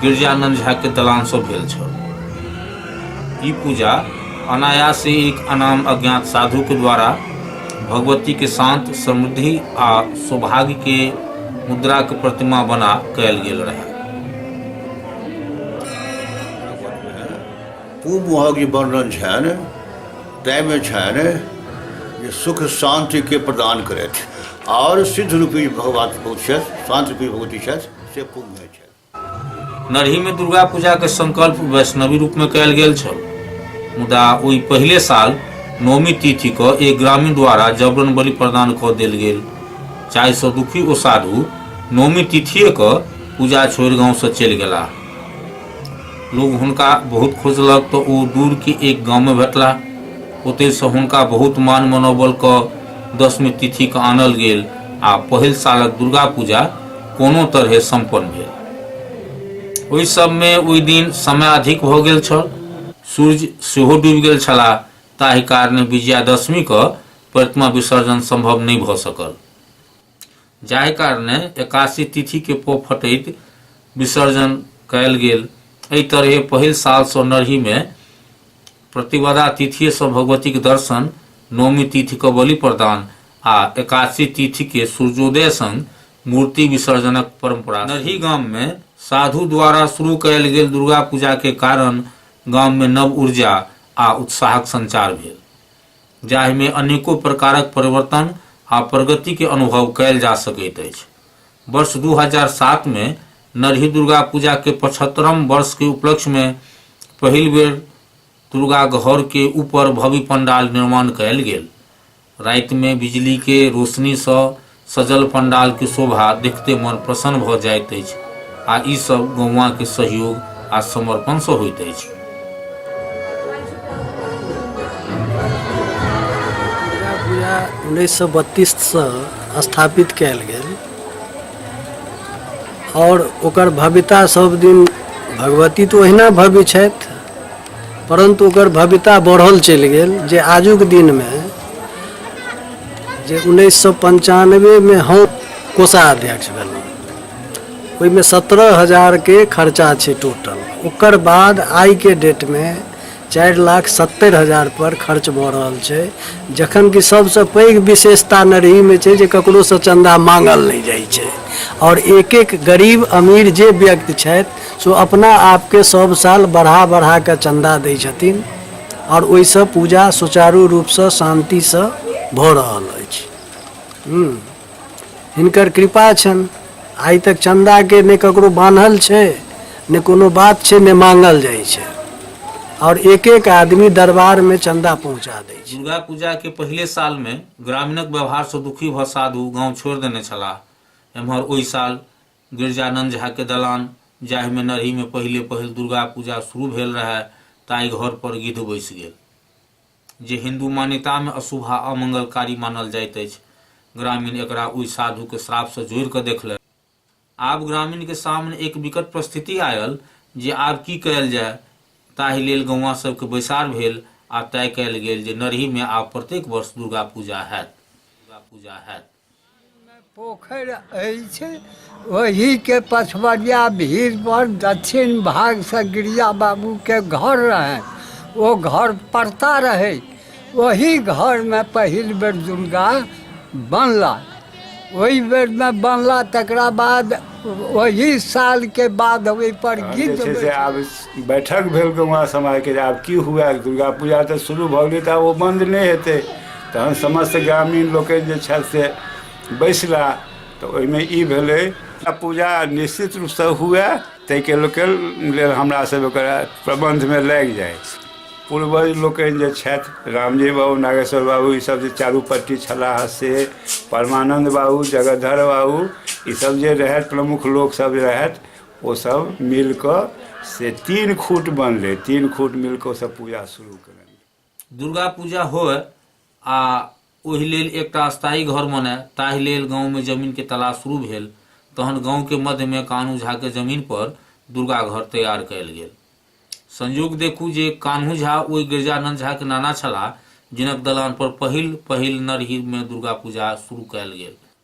गिरजानंद झा के दलान से भेल छल ई पूजा अनायास ही एक अनाम अज्ञात साधु के द्वारा भगवती के शांत समृद्धि आ सौभाग्य के मुद्रा के प्रतिमा बना कयल गेल रहे पूर्व महक जे वर्णन छनि ताहिमे छनि जे सुख शान्तिके प्रदान करथि आओर सिद्ध रूपी भगवती छथि शान्त रूपी भगवती छथि से पूर्वमे छथि नरहीमे दुर्गा पूजाके संकल्प वैष्णवी रूपमे कयल गेल छल मुदा ओहि पहिले साल नौमी तिथि क एक ग्रामीण द्वारा जबरन बलि प्रदान कऽ देल गेल जाहिसँ दुखी ओ साधु नौमी तिथिए क पूजा छोड़ि गाँवसँ चलि गेला लोग हुनका बहुत खोजलक तऽ ओ दूरके एक गाँवमे भेटला ओतयसँ हुनका बहुत मान मनोबल कऽ दसमी तिथिके आनल गेल आ पहिल सालक दुर्गा पूजा कोनो तरहे सम्पन्न भेल ओहि सबमे ओहि दिन समय अधिक भऽ गेल छल सूर्य सेहो डूबि गेल छलाह ताहि कारणे विजयादशमीके प्रतिमा विसर्जन सम्भव नहि भऽ सकल जाहि कारणे एकासी तिथिके पो फटैत विसर्जन कयल गेल एहि तरहे पहिल सालसँ नरहीमे प्रतिवदा तिथिएसँ भगवतीके दर्शन नौमी तिथिके बलि प्रदान आ एकासी तिथिके सूर्योदय संग मूर्ति विसर्जनक परंपरा नरही गाम मे साधु द्वारा शुरू कयल गेल दुर्गा पूजा के कारण गाम मे नव ऊर्जा आ उत्साहक संचार भेल जाहि मे अनेको प्रकारक परिवर्तन आ प्रगति के अनुभव कयल जा सकैत अछि वर्ष दू हजार सात मे नरही दुर्गा पूजा के पचहत्तरम वर्ष के उपलक्ष्य मे पहिल बेर दुर्गा घर के ऊपर भव्य पंडाल निर्माण कयल गेल राति मे बिजली के रोशनी सँ सजल पंडाल के शोभा देखते मन प्रसन्न भ जाइत अछि आ ई सब गौवा के सहयोग आ समर्पण सँ होइत अछि दुर्गा पूजा उन्नैस सए बत्तीससँ स्थापित कयल गेल आओर ओकर भव्यता सब दिन भगवती तऽ ओहिना भव्य छथि परन्तु ओकर भव्यता बढ़ल चलि गेल जे आजुक दिनमे जे उन्नैस सए पञ्चानबेमे हम कोषाध्यक्ष भेलहुँ ओहिमे सत्रह हजारके खर्चा छै टोटल ओकर बाद आइके डेटमे चारि लाख सत्तरि हजार पर खर्च भऽ रहल छै जखन कि सभसँ पैघ विशेषता नरहीमे छै जे ककरोसँ चन्दा माँगल नहि जाइ छै आओर एक एक गरीब अमीर जे व्यक्ति छथि सो अपना आपके सब साल बढ़ा बढ़ा कऽ चन्दा दै छथिन आओर ओहिसँ पूजा सुचारू रूपसँ शान्तिसँ भऽ रहल अछि हूँ हिनकर कृपा छनि आइ तक चन्दाके नहि ककरो बान्हल छै नहि कोनो बात छै नहि मांगल जाइ छै आओर एक एक आदमी दरबारमे चन्दा पहुँचा दै छै दुर्गा पूजा के पहिले साल में ग्रामीणक व्यवहार से दुखी भऽ साधु गांव छोड़ि देने छलाह एम्हर ओहि साल गिरिजानन्द झा के दलान जाहि मे नरही मे पहिले पहिल दुर्गा पूजा शुरू भेल रहय ताहि घर पर गिद्ध बैसि गेल। जे हिन्दू मान्यता मे अशुभ आ अमंगलकारी मानल जाइत अछि। ग्रामीण एकरा ओहि साधु के श्राप सँ जोड़ि क देखलनि। आब ग्रामीण के सामने एक विकट परिस्थिति आयल जे आब की कयल जाय। ताहि लेल गौआँ सभ के बैसार भेल आ तय कयल गेल जे नरही मे आब प्रत्येक वर्ष दुर्गा पूजा हयत। पोखरि अछि ओहिके पछबरिया भीड़ पर दक्षिण भाग से गिरिया बाबू के घर रहे ओ घर पड़ता रहे ओहि घर में पहिल बेर दुर्गा बनला ओहि बेर में बनला तकरा बाद ओहि साल के बाद ओहि पर गीत जे छै से आब बैठक भेल गौवा समाजके जे आब की हुए दुर्गा पूजा तऽ शुरू भऽ गेलै तऽ आब ओ बन्द नहि हेतै तहन समस्त ग्रामीण लोकनि जे छथि से बैसला तऽ ओहिमे ई भेलै आ पूजा निश्चित रूपसँ हुए ताहिके लोकके लेल हमरा सब ओकर प्रबन्धमे लागि जाइ पूर्वज लोकनि जे छथि रामजी बाबू नागेश्वर बाबू ईसब जे चारूपट्टी छलाह से परमानन्द बाबू जगधर बाबू ईसब जे रहथि प्रमुख लोकसब जे रहथि ओसब मिलिकऽ से तीन खूट बनलै तीन खूट मिलिकऽ ओसब पूजा शुरू कएलनि दुर्गा पूजा होय आ ओहि लेल एकटा स्थायी घर बने ताहि लेल गाँवमे जमीनके तलाश शुरू भेल तहन गाँवके मध्यमे कान्हू झाके जमीन पर दुर्गा घर तैयार कयल गेल संयोग देखू जे कान्हू झा ओहि गिरजानंद झाके नाना छलाह जिनक दलान पर पहिल पहिल नरहिरमे दुर्गा पूजा शुरू कयल गेल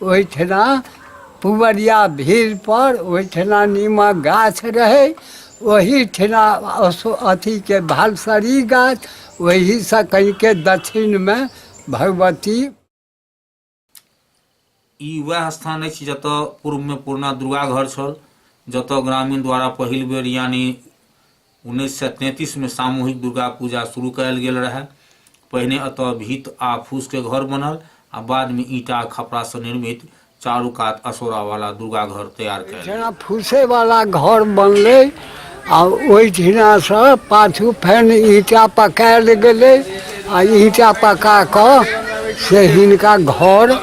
ओहिठिना पुबरिया भीड़पर ओहिठिना नीमक गाछ रहै ओहिठिना असो अथीके भालसरी गाछ ओहिसँ कनिके दक्षिणमे भगवती ई वएह स्थान अछि जतऽ पूर्वमे पुरना दुर्गा घर छल जतऽ ग्रामीण द्वारा पहिल बेर यानि उन्नैस सए तैंतीसमे सामूहिक दुर्गा पूजा शुरू कयल गेल रहए पहिने एतय भीत आ फूसके घर बनल आ बादमे ईंटा आ खपड़ासँ निर्मित चारू कात असोरावाला दुर्गा घर तैयार कयल गेल। जेना फूसेवाला घर बनलै आ ओहिठिनासँ पाछू फेन ईंटा पकायल गेलै आ ईंटा पका कऽ से हिनका घर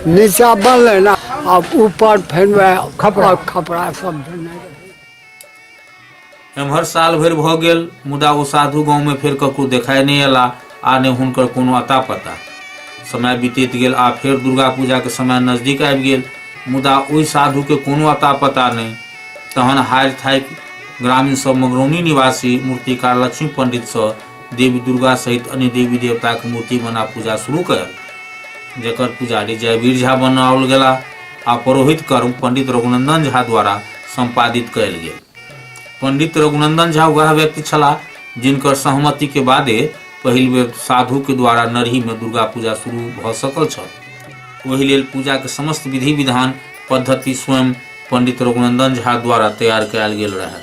नीचाँ बनलनि आ ऊपर फेन वएह खपड़ा खपड़ा सब देने रहै एम्हर साल भरि भऽ गेल मुदा ओ साधु गाँवमे फेर ककरो देखाइ नहि अयला आ ने हुनकर कोनो अता पता समय बीतैत गेल आ फेर दुर्गा पूजाके समय नजदीक आबि गेल मुदा ओहि साधुके कोनो अता पता नहि तहन हारि थाकि ग्रामीण सब मगरौनी निवासी मूर्तिकार लक्ष्मी पंडितसँ देवी दुर्गा सहित अन्य देवी देवताके मूर्ति बना पूजा शुरू कयल जकर पुजारी जयवीर झा बनाओल गेला आ परोहित कर्म पंडित रघुनंदन झा द्वारा संपादित कयल गेल पंडित रघुनंदन झा वह व्यक्ति छलाह जिनकर सहमति के बादे पहिल बेर साधु के द्वारा नरही में दुर्गा पूजा शुरू भऽ सकल छल ओहि लेल पूजा के समस्त विधि विधान पद्धति स्वयं पंडित रघुनंदन झा द्वारा तैयार कयल गेल रहै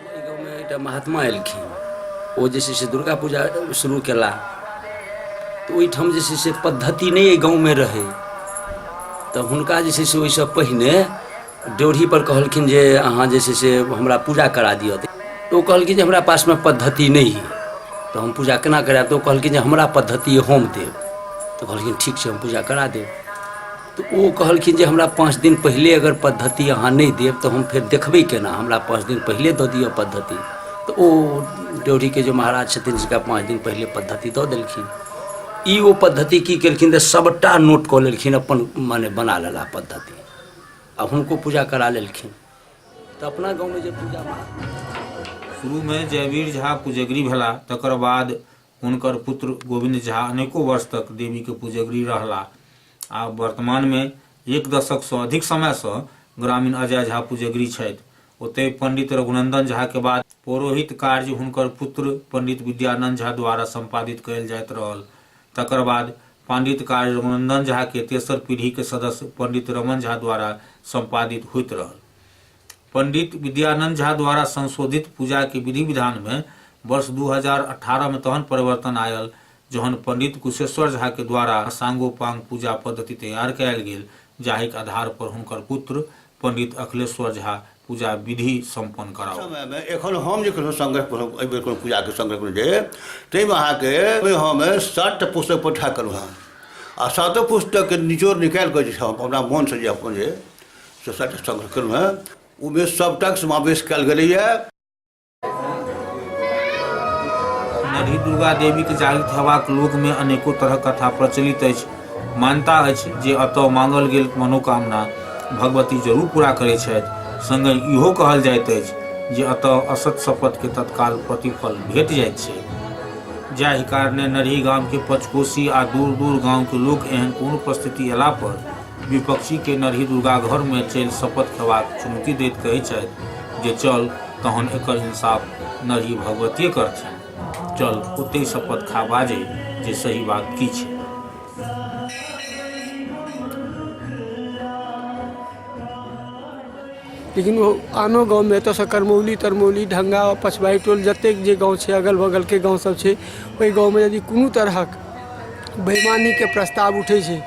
एकटा महात्मा एलखिन ओ जे छै से दुर्गा पूजा शुरू केला तऽ ओहिठाम जे छै से पद्धति नहि एहि गाँवमे रहै तऽ हुनका जे छै से ओहिसँ पहिने ड्योढ़ीपर कहलखिन जे अहाँ जे छै से हमरा पूजा करा दिअ तऽ ओ कहलखिन जे हमरा पासमे पद्धति नहि है तऽ हम पूजा केना करायब तऽ ओ कहलखिन जे हमरा पद्धति हम देब तऽ कहलखिन ठीक छै हम पूजा करा देब तऽ ओ कहलखिन जे हमरा पाँच दिन पहिले अगर पद्धति अहाँ नहि देब तऽ हम फेर देखबै केना हमरा पाँच दिन पहिले दऽ दिअ पद्धति तऽ ओ ड्योढ़ीके जे महाराज छथिन हुनका पाँच दिन पहिले पद्धति दऽ देलखिन ई ओ पद्धति की केलखिन तऽ सभटा नोट कऽ लेलखिन अपन मने बना लेला पद्धति आ हुनको पूजा करा लेलखिन तऽ अपना गाँवमे जे पूजा महाराज शुरूमे जयवीर झा पुजगरी भेला तकर बाद हुनकर पुत्र गोविन्द झा अनेको वर्ष तक देवी के पुजगरी रहला आ वर्तमान में एक दशक से अधिक समय से ग्रामीण अजय झा पुजगरी छथि ओतय पंडित रघुनंदन झा के बाद पौरोहित कार्य हुनकर पुत्र पंडित विद्यानंद झा द्वारा संपादित कयल जाइत रहल तकर बाद पंडित कार्य रघुनंदन झा के तेसर पीढ़ी के सदस्य पंडित रमन झा द्वारा संपादित होइत रहल पंडित विद्यानंद झा द्वारा संशोधित पूजा के विधि विधान में वर्ष 2018 में तहन परिवर्तन आयल जहन पंडित कुशेश्वर झा के द्वारा सांगोपांग पूजा पद्धति तैयार कयल गेल जाहिक आधार पर हुनकर पुत्र पंडित अखिलेश्वर झा पूजा विधि सम्पन्न कराओ समय में एखन हम जे कोनो संग्रह कोनो एहि बेर कोनो पूजा के संग्रह कोनो जे ताहिमे अहाँके ओहिमे हम सात टा पुस्तक पठा करू हम आ सातो पुस्तक के निचोड़ निकालि कऽ जे छै हम अपना मोन से जे अपन जे स्वच्छताके संरक्षणमे ओहिमे सभटाक समावेश कयल गेलैए नरही दुर्गा देवीके जागृत हेबाक लोकमे अनेको तरहक कथा प्रचलित अछि मान्यता अछि जे एतय मांगल गेल मनोकामना भगवती जरूर पूरा करैत छथि संगे इहो कहल जाइत अछि जे एतय असत शपथके तत्काल प्रतिफल भेट जाइत छै जाहि कारणे नरही गामके पचकोसी आ दूर दूर गामके लोक एहन कोनो परिस्थिति अयला पर विपक्षीकेँ नरही दुर्गाघरमे चलि शपथ खेबाक चुनौती दैत कहैत छथि जे चल तहन एकर इंसाफ नरही भगवतिये करथिन। चल ओतहि शपथ खा बाजहि जे सही बात की छै। लेकिन ओ आनो गाँवमे एतऽसँ करमौली तरमौली ढंगा पछबाइ टोल जतेक जे गाँव छै अगल बगलके गाँव सब छै ओहि गाँवमे यदि कोनो तरहक बेमानीके प्रस्ताव उठै छै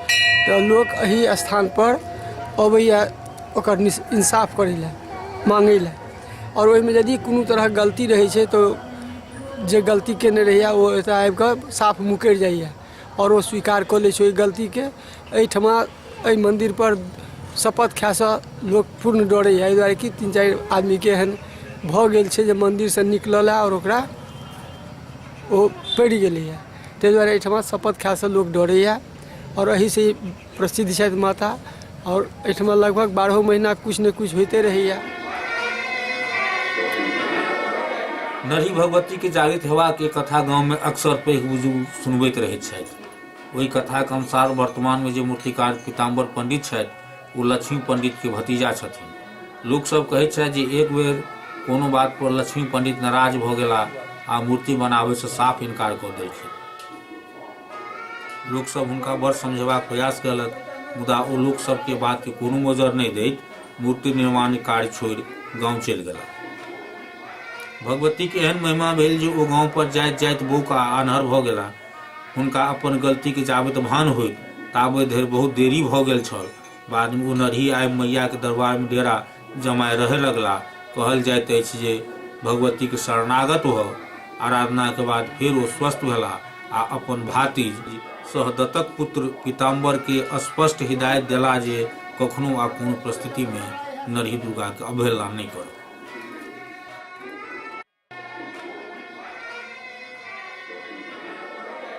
तऽ लोक एहि स्थान पर अबैया ओकर निस इंसाफ करै लए माँगै लए आओर ओहिमे यदि कोनो तरहक गलती रहै छै तऽ जे गलती केने रहैया ओ एतऽ आबि कऽ साफ मुकरि जाइया आओर ओ स्वीकार कऽ लै छै ओहि गलतीके एहिठमा एहि मन्दिरपर शपथ खाइसँ लोक पूर्ण डरैए एहि दुआरे कि तीन चारि आदमीके एहन भऽ गेल छै जे मन्दिरसँ निकलल आओर ओकरा ओ पड़ि गेलैए ताहि दुआरे एहिठमा शपथ खाइसँ लोक डरैए आओर एहिसँ प्रसिद्ध छथि माता आओर एहिठमा लगभग बारहो महीना किछु ने किछु होइते रहैया नरही भगवती के जागृत हेवा के कथा गांव में अक्सर पैघ बुजुर्ग सुनबैत रहैत छथि ओहि कथाक अनुसार वर्तमान में जे मूर्तिकार पीताम्बर पंडित छथि ओ लक्ष्मी पंडित के भतीजा छथिन लोक सब कहैत छथि जे एक बेर कोनो बात पर लक्ष्मी पंडित नाराज भऽ गेला आ मूर्ति बनाबय से साफ इनकार कऽ देलखिन लोक सब हुनका बड़ समझेबाक प्रयास कयलक मुदा ओ लोक सबके बात के कोनो मोजर नहि दैत मूर्ति निर्माण कार्य छोड़ि गांव चलि गेला भगवती के एहन महिमा भेल जे ओ गांव पर जाइत जाइत बोक आ आन्हर भऽ गेला हुनका अपन गलती के जाबैत भान होइत ताबे धरि बहुत देरी भऽ गेल छल बाद में ओ नरही आबि मैया के दरबार में डेरा जमाय रहय लगलाह। कहल जाइत अछि जे भगवतीक शरणागत भऽ आराधनाक बाद फेर ओ स्वस्थ भेलाह आ अपन भातिज सहदत्तक पुत्र पीताम्बर केँ स्पष्ट हिदायत देलाह जे कखनो आ कोनो परिस्थिति मे नरही दुर्गाक अवहेलना नहि करब।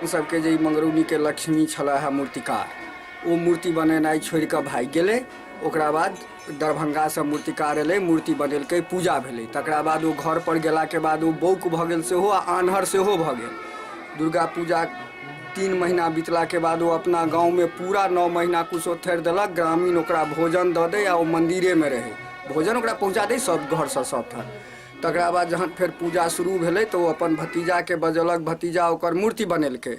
सबके जे ई मंगरौनीके लक्ष्मी छलै है मूर्तिकार ओ मूर्ति बनेनाइ छोड़ि कऽ भागि गेलै ओकरा बाद दरभंगासँ मूर्तिकार एलै मूर्ति बनेलकै पूजा भेलै तकरा बाद ओ घर पर गेलाके बाद ओ बौक भऽ गेल सेहो आ आन्हर सेहो भऽ गेल दुर्गा पूजा तीन महीना बितलाके बाद ओ अपना गाँवमे पूरा नओ महीना कुछो थेर देलक ग्रामीण ओकरा भोजन दऽ दै आ ओ मन्दिरेमे रहै भोजन ओकरा पहुँचा दै सब घरसँ सब ठाम तकरा बाद जहन फेर पूजा शुरू भेलै तऽ ओ अपन भतीजाके बजौलक भतीजा ओकर मूर्ति बनेलकै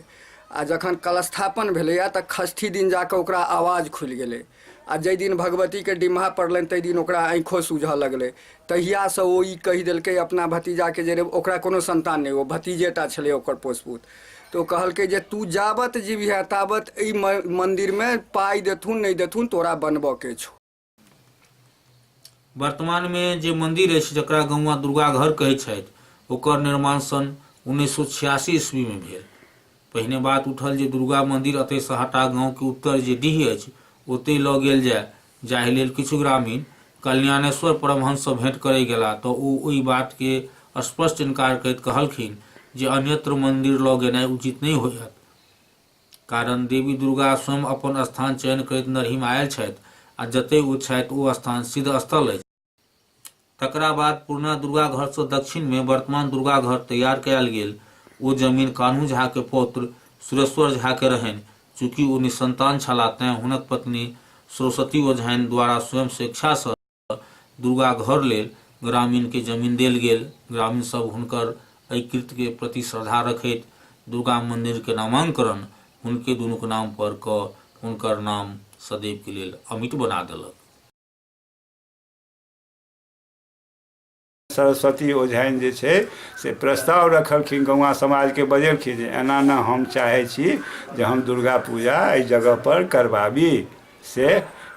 आ जखन कलस्थापन भेलैए तऽ खष्ठी दिन जा कऽ ओकरा आवाज खुलि गेलै आ जाहि दिन भगवतीके डिम्हा पड़लनि ताहि दिन ओकरा आँखिओ सूझऽ लगलै तहियासँ ओ ई कहि देलकै अपना भतीजाके जे रे ओकरा कोनो सन्तान नहि ओ भतीजेटा छलै ओकर पोसपूत तऽ ओ कहलकै जे तू जाबत जीबिहे ताबत एहि मन्दिरमे पाइ देथुन नहि देथुन तोरा बनबऽके छौ वर्तमान मे जे मंदिर अछि जकरा गौवा दुर्गा घर कहै छथि ओकर निर्माण सन उन्नैस सौ छियासी ईस्वी मे भेल पहिने बात उठल जे दुर्गा मंदिर अतय से हटा गांव के उत्तर जे डीह अछि ओतय लऽ गेल जाय जाहि लेल किछु ग्रामीण कल्याणेश्वर परमहंस सँ भेंट करय गेला तऽ ओ ओहि बात के स्पष्ट इनकार करैत कहलखिन जे अन्यत्र मंदिर लऽ गेनाय उचित नहि होयत कारण देवी दुर्गा स्वयं अपन स्थान चयन करैत नरहीमे आयल छथि आ जतय ओ छथि ओ स्थान सिद्ध स्थल अछि। तकरा बाद पुरना दुर्गा घरसँ दक्षिणमे वर्तमान दुर्गा घर तैयार कयल गेल। ओ जमीन कान्हू झाक पौत्र सुरेश्वर झाक रहनि। चूँकि ओ निःसन्तान छलाह तैँ हुनक पत्नी सरस्वती ओझानि द्वारा स्वयं स्वेच्छासँ। दुर्गा घर लेल ग्रामीणके जमीन देल गेल ग्रामीण सब हुनकर एहि कृत्यके प्रति श्रद्धा रखैत दुर्गा मन्दिरके नामाङ्करण हुनके दुनूके नाम पर कऽ हुनकर नाम सदैवके लेल अमिट बना देलक सरस्वती ओझाइन जे छै से प्रस्ताव रखलखिन गौवा समाजके बजेलखिन जे एना ने हम चाहै छी जे हम दुर्गा पूजा एहि जगहपर करबाबी से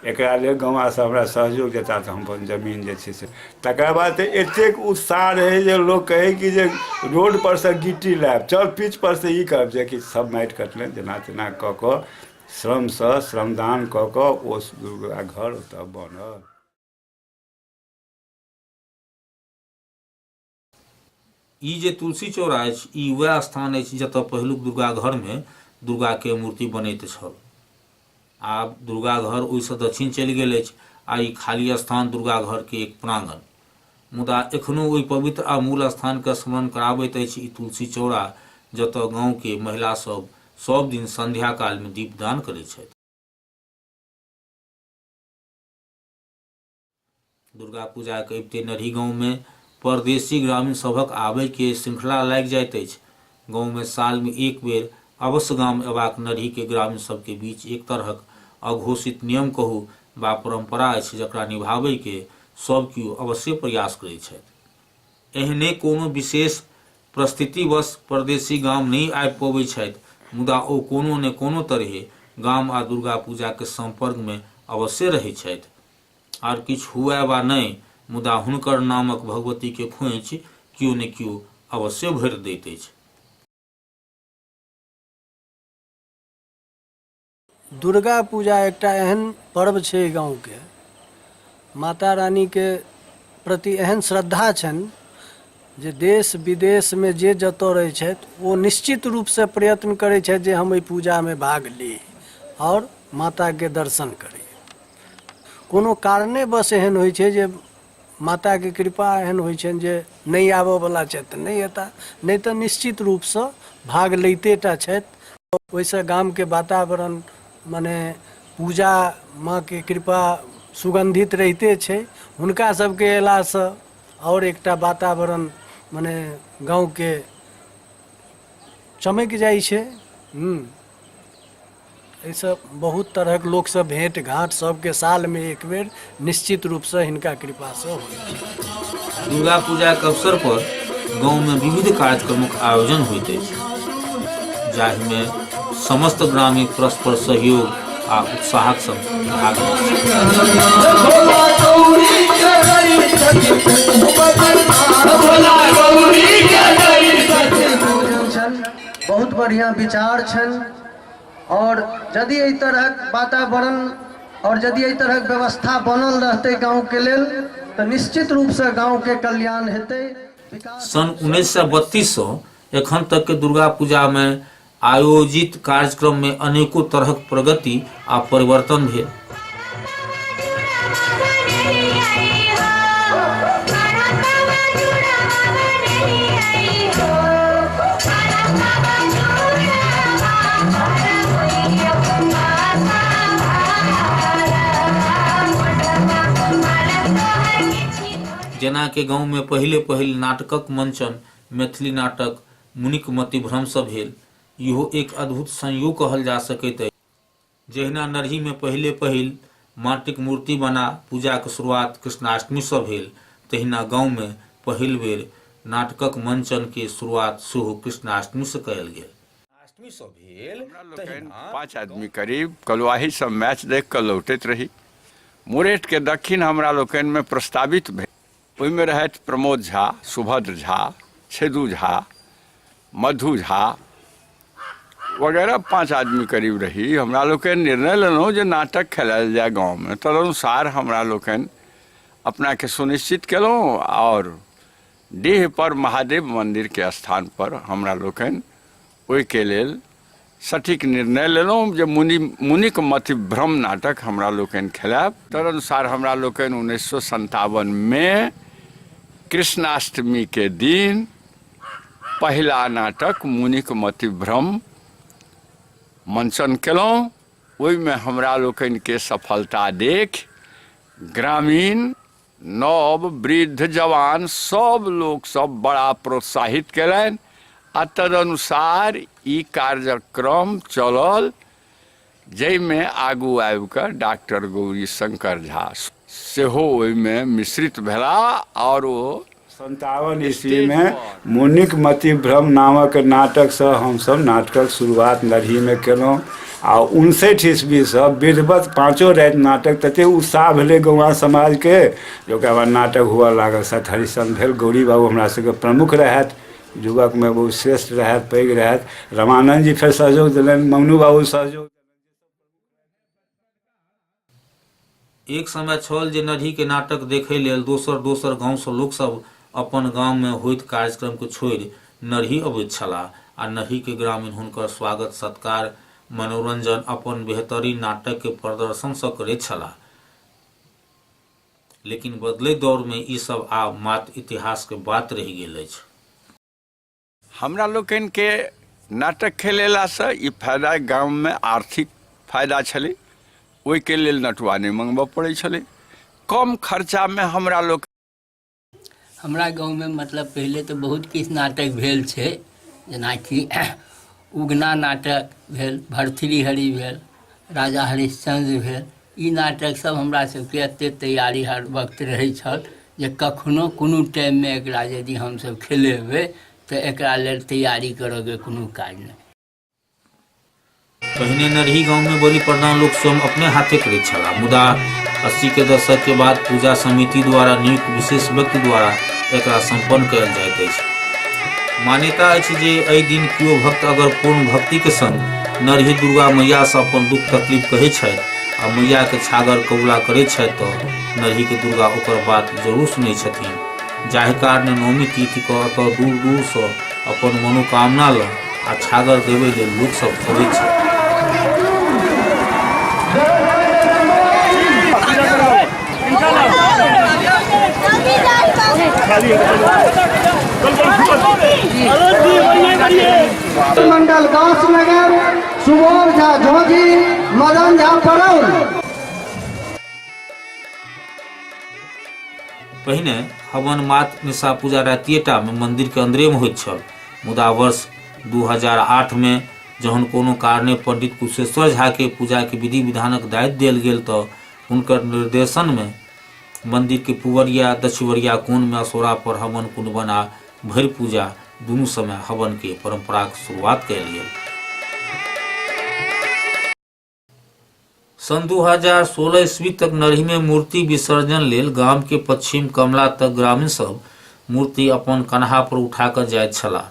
एकरा लेल गौवासँ हमरा सहयोग देता तऽ हम अपन जमीन जे छै से तकरा बाद तऽ एतेक उत्साह रहै जे लोक कहै कि जे रोडपर सँ गिट्टी लायब चल पिचपर सँ ई करब जेकि सब माटि कटलनि जेना तेना कऽ कऽ श्रमसँ श्रमदान कऽ कऽ ओ दुर्गा घर ओतऽ बनल ई जे तुलसी चौरा अछि ई वएह स्थान अछि जतय पहिलुक दुर्गा घर मे दुर्गा के मूर्ति बनैत छल आब दुर्गा घर ओहिसँ दक्षिण चलि गेल अछि आ ई खाली स्थान दुर्गा घर के एक प्रांगण मुदा एखनो ओहि पवित्र आ मूल स्थान के स्मरण कराबैत अछि ई तुलसी चौरा जतय गांव के महिला सब सब दिन संध्या काल में दीपदान करैत छथि दुर्गा पूजाके अबिते नरही गाँवमे परदेशी ग्रामीण सभक आबयके श्रृंखला लागि जाइत अछि गाँवमे सालमे एक बेर अवश्य गाम अयबाक नरहीके ग्रामीण सभके बीच एक तरहक अघोषित नियम कहू वा परम्परा अछि जकरा निभाबयके सभ केओ अवश्य प्रयास करैत छथि एहने कोनो विशेष प्रस्थितिवश परदेशी गाम नहि आबि पबैत छथि मुदा ओ कोनो ने कोनो तरहें गाम आ दुर्गा पूजाक सम्पर्कमे अवश्ये रहैत छथि। आर किछु हुअए वा नहि मुदा हुनकर नामक भगवतीक खोंइछ कियो ने कियो अवश्ये भरि दैत अछि। दुर्गा पूजा एकटा एहन पर्व छै एहि गाँवके माता रानीके प्रति एहन श्रद्धा छनि जे देश विदेशमे जे जतऽ रहै छथि ओ निश्चित रूपसँ प्रयत्न करै छथि जे हम एहि पूजामे भाग ली आओर माताके दर्शन करी कोनो कारणेवश एहन होइ छै जे माता के कृपा एहन होइ छनि जे नहि आबऽ वाला छथि तऽ नहि एता नहि तऽ निश्चित रूप सँ भाग लैते टा छथि ओहिसँ गाम के वातावरण मने पूजा माँ के कृपा सुगंधित रहिते छै हुनका सबके अयला सँ आओर एकटा वातावरण मने गाँव के चमकि जाइ छै हूँ एहिसँ बहुत तरहक लोकसँ भेँट घाँट सभके सालमे एक बेर निश्चित रूपसँ हिनका कृपासँ होइत दुर्गा पूजाक अवसर पर गाँवमे विविध कार्यक्रमक आयोजन होइत अछि जाहिमे समस्त ग्रामीण परस्पर सहयोग आ उत्साहक संग भाग लैत छथि। बहुत बढ़िया विचार छन और यदि एहि तरहक वातावरण और यदि एहि तरहक व्यवस्था बनल रहते गांव के लेल तो निश्चित रूप से गांव के कल्याण हेते विकास सन् उन्नैस सय बत्तीससँ एखन तकके दुर्गा पूजामे आयोजित कार्यक्रममे अनेको तरहक प्रगति आब परिवर्तन भेल जेना के गाँव में पहिले पहिल नाटकक मंचन मैथिली नाटक मुनिक मतिभ्रम सँ भेल इहो एक अद्भुत संयोग कहल जा सकैत अछि जहिना नरही मे पहिले पहिल माटिक मूर्ति बना पूजाक शुरुआत कृष्णाष्टमी सँ भेल तहिना गाँव मे पहिल बेर नाटकक मंचन के शुरुआत सेहो कृष्णाष्टमी सँ कयल गेल। हमरा लोकनि पाँच आदमी करीब कलुआही सँ मैच देख कऽ लौटैत रही। मुरेठ के दक्खिन हमरा लोकनि मे प्रस्तावित भेल। ओहिमे रहथि प्रमोद झा सुभद्र झा छेदू झा मधु झा वगैरह पाँच आदमी करीब रही हमरा लोकनि निर्णय लेलहुँ जे नाटक खेलायल जाय गाँवमे तदनुसार हमरा लोकनि अपनाके सुनिश्चित केलहुँ आओर डीह पर महादेव मन्दिरके स्थान पर हमरा लोकनि ओहिके लेल सटीक निर्णय लेलहुँ जे मुनि मुनिक मति भ्रम नाटक हमरा लोकनि खेलायब तदनुसार हमरा लोकनि उन्नैस सए सन्तावनमे कृष्णाष्टमीके दिन पहिला नाटक मुनिक मति भ्रम मंचन केलहुँ ओहिमे हमरा लोकनिके सफलता देख ग्रामीण नव, वृद्ध, जवान सब लोग सब बड़ा प्रोत्साहित कैलनि आ तदनुसार ई कार्यक्रम चलल जइमे आगू आबि कऽ डाक्टर गौरी शंकर झा सेहो ओहिमे मिश्रित भेलाह आओर ओ सन्तावन ईस्वीमे मुनिक मतिभ्रम नामक नाटकसँ हमसभ नाटकक शुरुआत नरहीमे केलहुँ आ उनसठि ईस्वीसँ विधिवत पाँचो राति नाटक ततेक उत्साह भेलै गौआँ समाजके जे ओकरा बाद नाटक हुअ लागल सत हरिश्चन्द्र भेल गौरी बाबू हमरा सभके प्रमुख रहथि युवकमे ओ श्रेष्ठ रहथि पैघ रहथि रमानन्दजी फेर सहयोग देलनि मङ्गनू बाबू सहयोग एक समय छल जे नढ़ी के नाटक देखय लेल दोसर-दोसर गाँव सँ लोक सभ अपन गाम मे होइत कार्यक्रम के छोड़ि नढ़ी अबैत छलाह आ नढ़ी के ग्रामीण हुनकर स्वागत-सत्कार, मनोरंजन अपन बेहतरीन नाटक के प्रदर्शन सँ करैत छलाह। लेकिन बदलैत दौर मे ई सभ आब मात्र इतिहास के बात रहि गेल अछि। हमरा लोकनिके नाटक खेलेलासँ ई फायदा गाममे आर्थिक फायदा छलै ओहिके लेल नटुआ नहि मङ्गबऽ पड़ै छलै कम खर्चामे हमरा लोक हमरा गाँवमे मतलब पहिले तऽ बहुत किछु नाटक भेल छै जेनाकि उगना नाटक भेल भरथरी हरी भेल राजा हरिश्चन्द्र भेल ई नाटक सब हमरा सबके एते तैयारी हर वक्त रहै छल जे कखनो कोनो टाइममे एकरा यदि हमसब खेलेबै तऽ एकरा लेल तैयारी करऽके कोनो काज नहि पहिने नरही गाँवमे बलि प्रदान लोक स्वयं अपने हाथे करैत छलाह मुदा अस्सी के दशक के बाद पूजा समिति द्वारा नियुक्त विशेष व्यक्ति द्वारा एकरा सम्पन्न कयल जाइत अछि मान्यता अछि जे एहि दिन केओ भक्त अगर पूर्ण भक्तिके संग नरही दुर्गा मैया से अपन दुख तकलीफ कहै छथि आ मैया के छागर कबूला करै छथि तो नरही के दुर्गा ओकर बात जरूर सुनै छथिन जाहि कारणे नवमी तिथि के एतऽ दूर दूर से अपन मनोकामना लऽ आ छागर देबै लेल लोक सब अबै छथि मंडल गांव नगर सुबोध झा झोजी मदन झा परौल पहिने हवन मात निशा पूजा रातिएटामे मन्दिरके अन्दरेमे होइत छल मुदा वर्ष 2008 मे जहन कोनो कारणे पंडित कुशेश्वर झाके पूजाके विधि विधानक दायित्व देल गेल तऽ हुनकर निर्देशनमे मन्दिरके पुवरिया दक्षिवरिया कोणमे असोरा पर हवन कुंडवन आ भरि पूजा दुनू समय हवनके परम्पराक शुरुआत कयल गेल सन् दू हजार सोलह ईस्वी तक नरहीमे मूर्ति विसर्जन लेल गामके पश्चिम कमला तक ग्रामीण सब मूर्ति अपन कन्हा पर उठा कऽ जाइत छलाह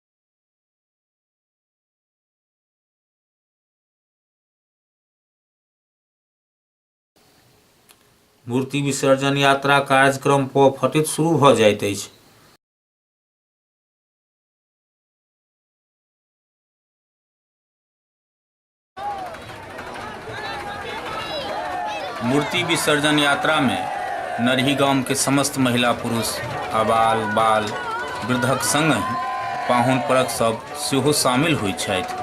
मूर्ति विसर्जन यात्रा कार्यक्रम पर फटित शुरू भऽ जाइत अछि मूर्ति विसर्जन यात्रा में नरही गाम के समस्त महिला पुरुष अबाल बाल वृद्धक संग पाहुन परक सब सेहो शामिल होइत छथि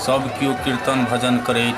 सब केओ कीर्तन भजन करैत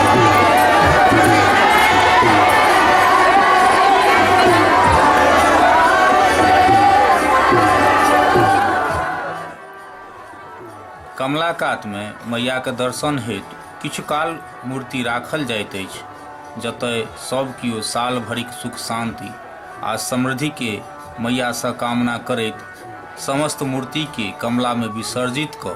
कमला कातमे मैयाक दर्शन हेतु किछु काल मूर्ति राखल जाइत अछि जतय सभ कियो साल भरिक सुख शान्ति आ समृद्धिके मैयासँ कामना करैत समस्त मूर्तिके कमलामे विसर्जित कऽ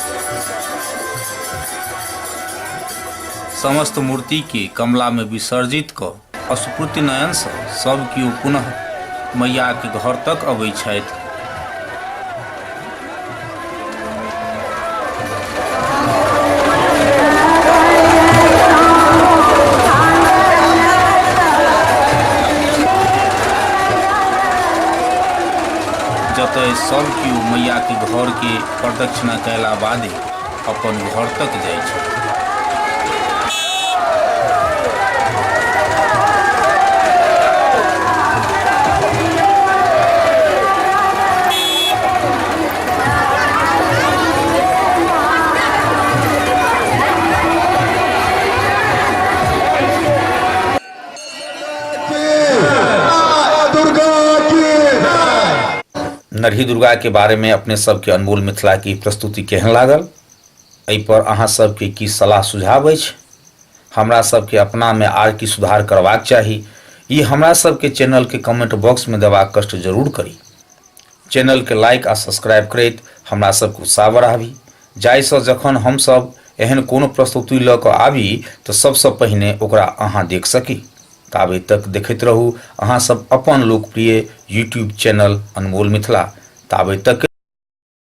समस्त मूर्तिके कमलामे विसर्जित कऽ अस्फूर्ति नयनसँ सभ केओ पुनः मैयाके घर तक अबैत छथि जतय सभ केओ मैयाके घरके प्रदक्षिणा कयला बादे अपन घर तक जाइ छथि नरही दुर्गा के बारे में अपने सबके अनमोल मिथिला की प्रस्तुति केहन लागल एहि पर अहाँ सबके की सलाह सुझाव अछि हमरा सबके अपना में आर की सुधार करबाक चाही ई हमरा सबके चैनल के कमेंट बॉक्स में देबाक कष्ट जरूर करी चैनल के लाइक आ सब्सक्राइब करैत हमरा सबके उत्साह बढ़ाबी जाहि सँ जखन हम सब एहन कोनो प्रस्तुति लऽ कऽ आबी तऽ सब सँ पहिने ओकरा अहाँ देख सकी। ताबे तक देखैत रहू अहाँ सब अपन लोकप्रिय यूट्यूब चैनल अनमोल मिथिला। ताबे तक।